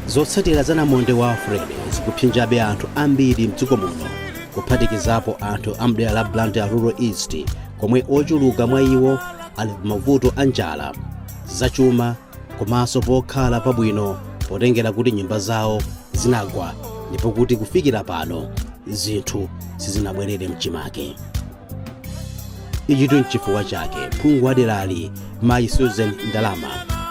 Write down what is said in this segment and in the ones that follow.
zotsatira za namondwe wa freddy zikuphinjabe anthu ambiri mdziko muno kuphatikizapo anthu a mdera la blantyre rural east komwe ochuluka mwa iwo ali pamavuto a njala zachuma komanso pokhala pabwino potengera kuti nyumba zawo zinagwa ndipo kuti kufikira pano zinthu sizinabwerere mchimake ichitu nchifukwa chake phungu wa derali mayi susan ndalama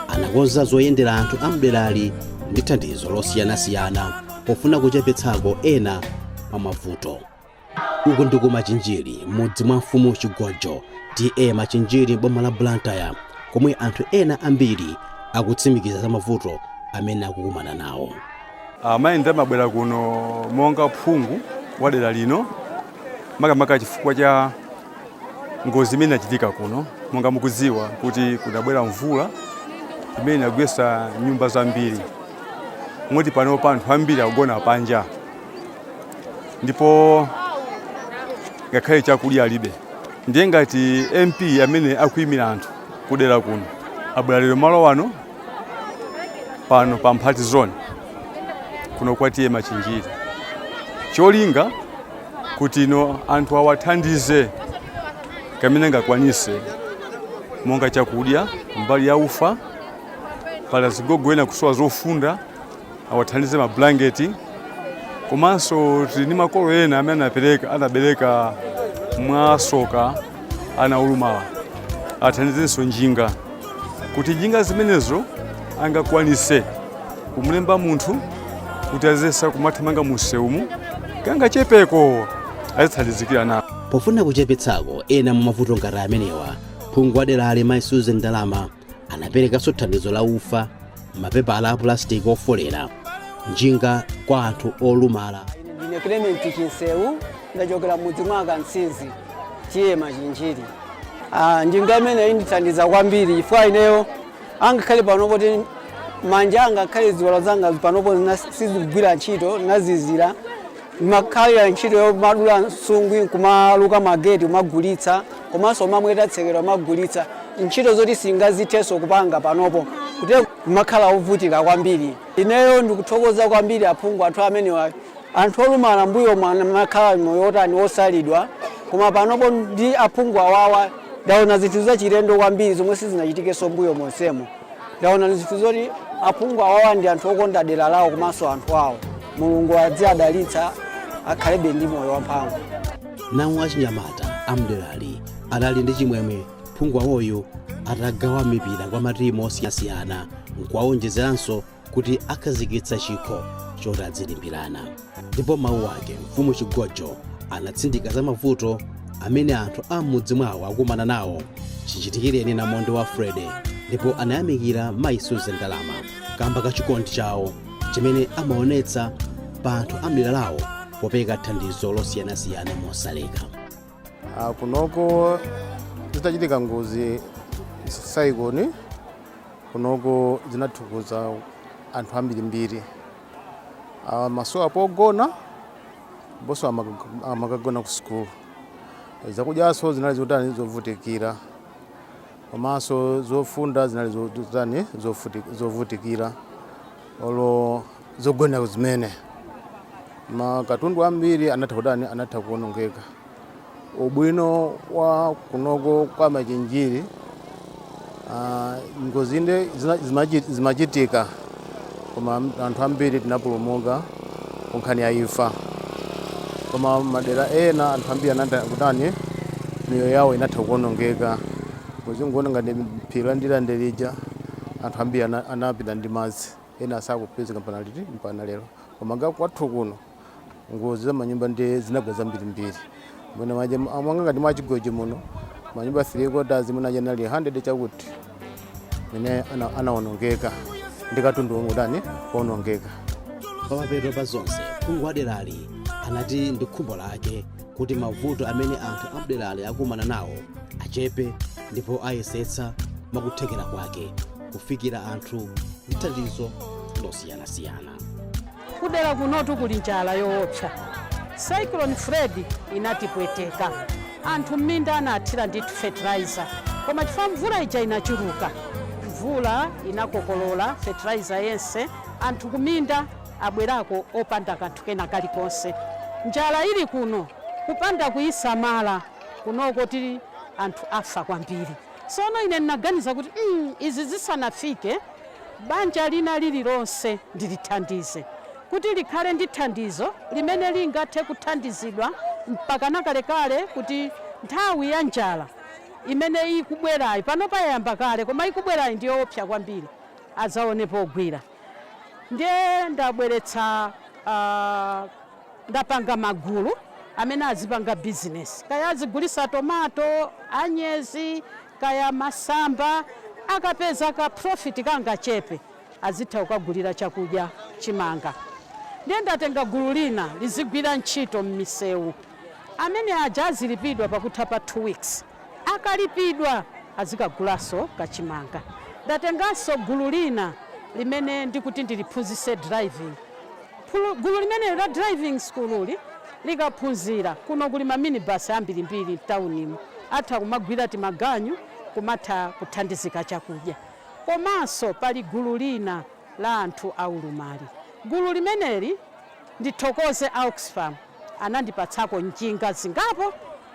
anakonza zoyendera anthu a mderali ndi thandizo losiyanasiyana pofuna kuchepetsako ena mwa mavuto Uku ndi ku Machinjiri m'mudzi mwa mfumu Chigojo, TA Machinjiri m'boma la Blantyre komwe anthu ena ambiri akutsimikiza za mavuto amene akukumana nawo. Ah, Mayi Ndalama abwera kuno monga phungu wa dera lino makamaka chifukwa cha ngozi imene inachitika kuno monga mukudziwa kuti kunabwera mvula imene inagwetsa nyumba zambiri moti panopa anthu ambiri akugona panja ndipo ngakhale chakudya alibe ndiye ngati mp amene akuyimira anthu kudera kuno abwera lero malo wano pano pa mphati zone kuno kwa ta machinjiri cholinga kuti anthu awathandize kamene angakwanise monga chakudya mbali ya ufa pali zigogo ena akusowa zofunda awathandize mabulangeti komanso tili ndi makolo ena amene anapereka anabereka mwasoka ana olumala awathandizenso njinga kuti njinga zimenezo angakwanise kumlemba munthu kuti azitha kumathamanga musewumu kangachepeko azithandizika nawo pofuna kuchepetsako ena mwa mavuto ngati amenewa phungu wa derali mayi susan ndalama anaperekanso thandizo la ufa mapepala a pulasitiki ofolera njinga kwa anthu olumala ndine clement chinsewu ndachokera mudzi mwa kansizi ta machinjiri Ah, njinga imeneyi indithandiza kwambiri chifukwa ineyo ngakhale panopo moti manja ngakhale ziwalo zanga panopo sizikugwira ntchito zinazizira Ndimakhalira ntchito yomadula nsungwi nkumaluka mageti kumagulitsa komanso kumamweta tsekera kumagulitsa. Ntchito zoti sindingazithenso kupanga panopo. Moti kumakhala ovutika kwambiri. Ineyo ndikuthokoza kwambiri aphungu athu amenewa. Anthu olumala mbuyomu amakhala moyo wotani wosalidwa koma panopo ndi aphungu awawa ndaona zinthu zachilendo kwambiri zomwe sizinachitikenso mbuyo monsemu. ndaona zinthu zoti aphungu awawa ndi anthu okonda dera lawo komanso anthu awo mulungu adziwadalitsa akhalebe ndi moyo wamphamvu nawo achinyamata amderali adali ndi chimwemwe phungu wawoyu atagawa mipira kwa matimu osiyanasiyana nkuwaonjezeranso kuti akhazikitsa chikho choti adzilimbirana ndipo mawu ake mfumu chigojo anatsindika za mavuto amene anthu a m'mudzi mwawo akumana nawo chichitikireni namondwe wa Freddy ndipo anayamikira mayi Susan Ndalama kamba ka chikondi chawo chimene amaonetsa pa anthu a mdera lawo popereka thandizo losiyanasiyana mosaleka Ah, kunoko zitachitika ngozi cyclone Kunoko zinatikhudza anthu ambirimbiri amasowa pogona ndiponso amakagona ku sukulu zakudyanso zinali zotani zovutikira komanso zofunda zinali zotani zovutikira olo zogonera zimene makatundu ambiri anatha kutani anatha kuonongeka Ubwino wa kunoko kwa Machinjiri ah, ngozi nde zina- zimachi- zimachitika koma am- anthu ambiri tinapulumuka ku nkhani ya imfa koma madera ena anthu ambiri anatha kutani miyoyo yawo inatha kuonongeka ngozi ngati phiri la ndirande lija anthu ambiri ana- anapita ndi madzi ena sakupezeka mpana liti mpana lero koma ngati kwathu kuno ngozi za manyumba ndiye zinagwa zambirimbiri mwina manyumba mwanga ngati mwa chigojo muno manyumba 3 quarters mwina anali 100 chakuti mene ana- anaonongeka ndi katundu womwe kutani kuonongeka pamapeto pa zonse phungu wa derali anati ndi khumbo lake kuti mavuto amene anthu amderali akumana nawo achepe ndipo ayesetsa mwakuthekera kwake kufikira anthu ndi thandizo losiyanasiyana kudera kunotu kuli njala yoopsa cyclone freddy inatipweteka anthu m'minda anathira ndithu fertilizer koma chifukwa mvula ija inachuluka mvula inakokolola fertilizer yense anthu kuminda abwerako opanda kanthu kena kalikonse njala ili kuno kupanda kuyisamala kunoko tili anthu afa kwambiri Tsono ine ndinaganiza kuti, mm, izi zisanafike, banja lina lililonse ndilithandize, kuti likhale ndi thandizo limene lingathe kuthandizidwa mpakana kalekale kuti nthawi ya njala imene ikubwerayi, panopa yayamba kale koma ikubwerayi ndi yoopsa kwambiri, adzaone pogwira. Ndiye ndabweretsa ndapanga magulu amene azipanga bizinesi kaya azigulisa tomato, anyezi, kaya masamba. Akapeza ka profit kangachepe azitha kukagulira chakudya, chimanga. Ndiye ndatenga gulu lina lizigwira ntchito mmisewu. Amene aja azilipidwa pakutha pa two weeks. Akalipidwa azikagulaso ka chimanga. Ndatenganso gulu lina limene ndikuti ndiliphunzise driving. Gulu limeneli la driving school'li likaphunzira, kuno kuli ma minibus ambirimbiri mtaunimo, atha kumagwira timaganyu kumatha kuthandizika chakudya. Komanso pali gulu lina la anthu aulumali. Gulu limeneli ndithokoze a Oxfam. anandipatsako njinga zingapo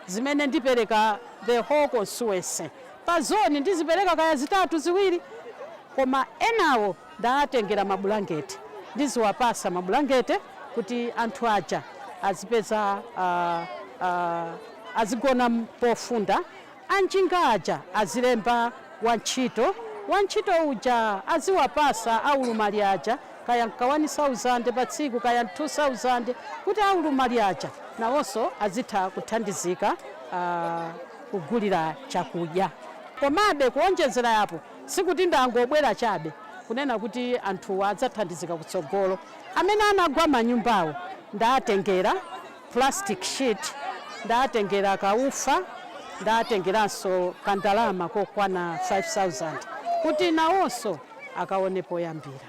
zimene ndipereka the whole constituency pa zoni ndizipereka kaya zitatu ziwiri koma enawo ndaatengera mabulangete ndiziwapasa mabulangete kuti anthu aja azipeza uh, uh, azigona pofunda anjinga aja azilemba wantchito, wantchito uja aziwapasa aulumali aja kaya ndi ka wani sauzande patsiku kaya ndi thu sauzande kuti aulumali aja nawonso azitha kuthandizika kugulira chakudya. Komabe kuonjezera apo sikuti ndangobwera chabe kunena kuti anthuwa adzathandizika kutsogolo, amene anagwa manyumbawo ndaatengera. plastic sheet, ndatengera ka ufa, ndatengeranso ka ndalama kokwana 5000 kuti nawonso akaone poyambira.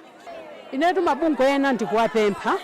Inetu mabungwe ena ndikuwapempha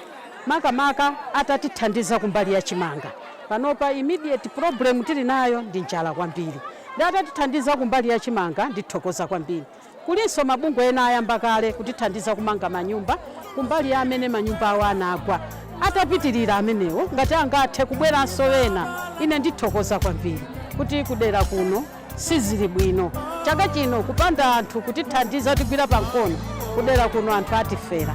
makamaka atatithandiza kumbali ya chimanga, panopa immediate problem tili nayo ndi njala kwambiri, nde atatithandiza kumbali ya chimanga ndithokoza kwambiri. Kulinso mabungwe ena ayamba kale kutithandiza kumanga manyumba kumbali ya amene manyumba awo anagwa. Atapitirira amenewo, ngati angathe kubweranso ena, ine ndithokoza kwambiri kuti kudera kuno sizili bwino. Chaka chino kupanda anthu kutithandiza kutigwira pa mkono, kudera kuno anthu atifera.